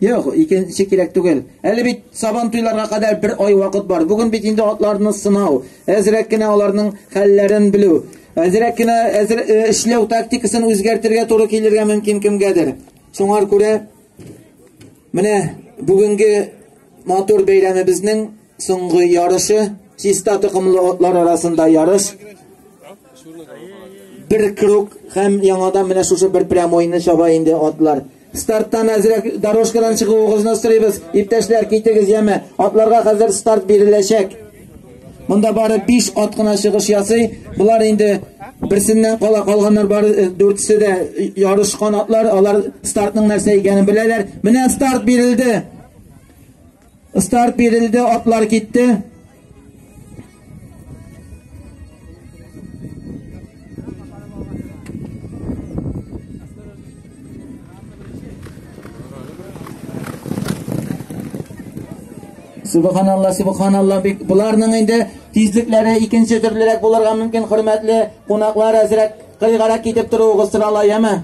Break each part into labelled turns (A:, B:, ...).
A: Юк, икенче кирәк түгел. Әле бит сабан туйларга кадәр бер ай вакыт бар. Бүген бит инде атларны сынау, әзрәк кенә аларның хәлләрен белү, әзрәк кенә әзер, э, эшләү тактикасын үзгәртергә туры килергә мөмкин кемгәдер. Шуңар күрә менә бүгенге матур бәйрәмебезнең Соңгы ярышы чиста токымлы атлар арасында ярыш. Бер круг һәм яңадан менә шушы бер прямойны чаба инде атлар. Старттан әзрәк дорожкадан чыгуыгызны сорыйбыз. Иптәшләр, китегез яме. Атларга хәзер старт биреләчәк. Монда бары 5 ат кына чыгыш ясый. Булар инде берсеннән кала калганнар бар э, дүртесе дә ярыш канатлар алар стартның нәрсә икәнен беләләр менә старт бирелде Старт бирелде, атлар китте. Субханалла, субханалла, бик буларның инде тизлекләре икенче төрлерәк булырга мөмкин, хөрмәтле кунаклар, әзрәк кыйгарак китеп торуыгыз сорала, яме?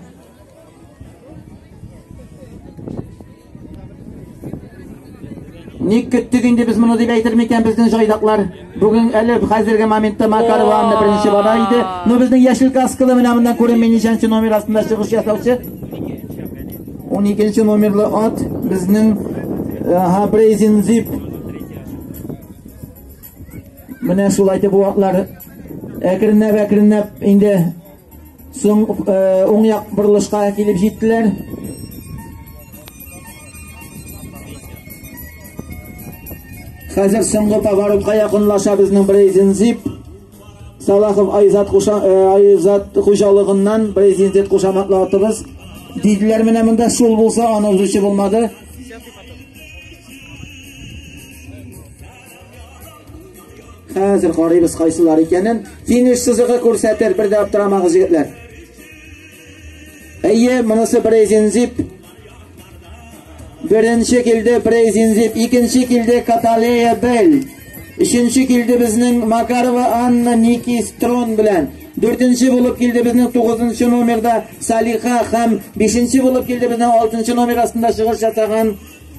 A: Ник көттек инде без моны дип әйтер микән безнең җайдаклар? Бүген әле хәзерге моментта Макаров Анна беренче бала иде. Ну безнең яшел каскалы менә моннан күренми ничәнче номер астында чыгыш ясаучы. 12 номерлы ат безнең Хабрезин Зип Менә шулай итеп бу атлар әкренләп-әкренләп инде соң уң як борылышка килеп җиттеләр. Хәзер соңгы поворотка якынлаша безнең Брейзен Зип. Салахов Айзат Хуша Айзат хуҗалыгыннан Брейзен Зип кушаматлы атыбыз. Диделәр менә монда шул булса аны узучы булмады. Хәзер карыйбыз кайсылар икәнен. Финиш сызыгы күрсәтер, бер дә аптырамагыз егетләр. Әйе, монысы Брейзинзип. Беренче килде Брейзинзип, икенче килде Каталея Бель. Өченче килде безнең Макарова Анна Ники Строн белән. Дүртенче булып килде безнең 9 номерда Салиха һәм бишенче булып килде безнең 6 номер астында чыгыш ясаган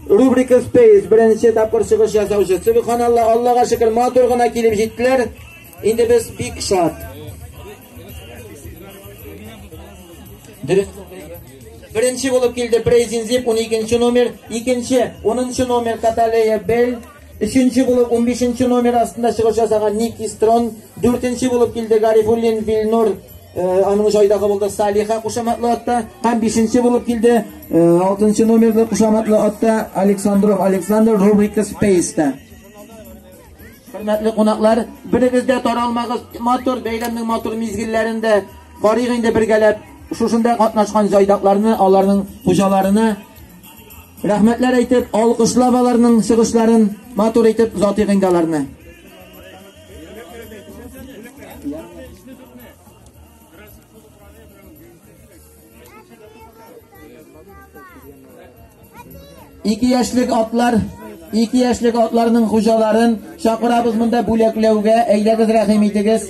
A: Рубрика Space беренче тапкыр чыгыш ясаучы. Субханалла, Аллага шөкер, матур гына килеп җиттеләр. Инде без бик шат. Дөрес. Беренче булып килде Брейзин Зип 12 номер, икенче 10 номер Каталея Бель Өченче булып 15 номер астында чыгыш ясаган Ник Истрон, дүртенче булып килде Гарифуллин Вильнур, э, аның җайдагы булды Салиха кушаматлы атта, һәм бишенче булып килде э, алтынчы номерлы кушаматлы атта Александров Александр рубрика Спейста. Хөрмәтле кунаклар, берегез дә таралмагыз, матур бәйрәмнең матур мизгелләрендә барыйк инде бергәләп шушында катнашкан җайдакларны, аларның хуҗаларына Рәхмәтләр әйтеп, алкышлап аларның чыгышларын матур итеп озатыйк инде аларны. Ике яшьлек атлар ике яшьлек атларның хуҗаларын чакырабыз монда бүләкләүгә. Әйдәгез рәхим итегез.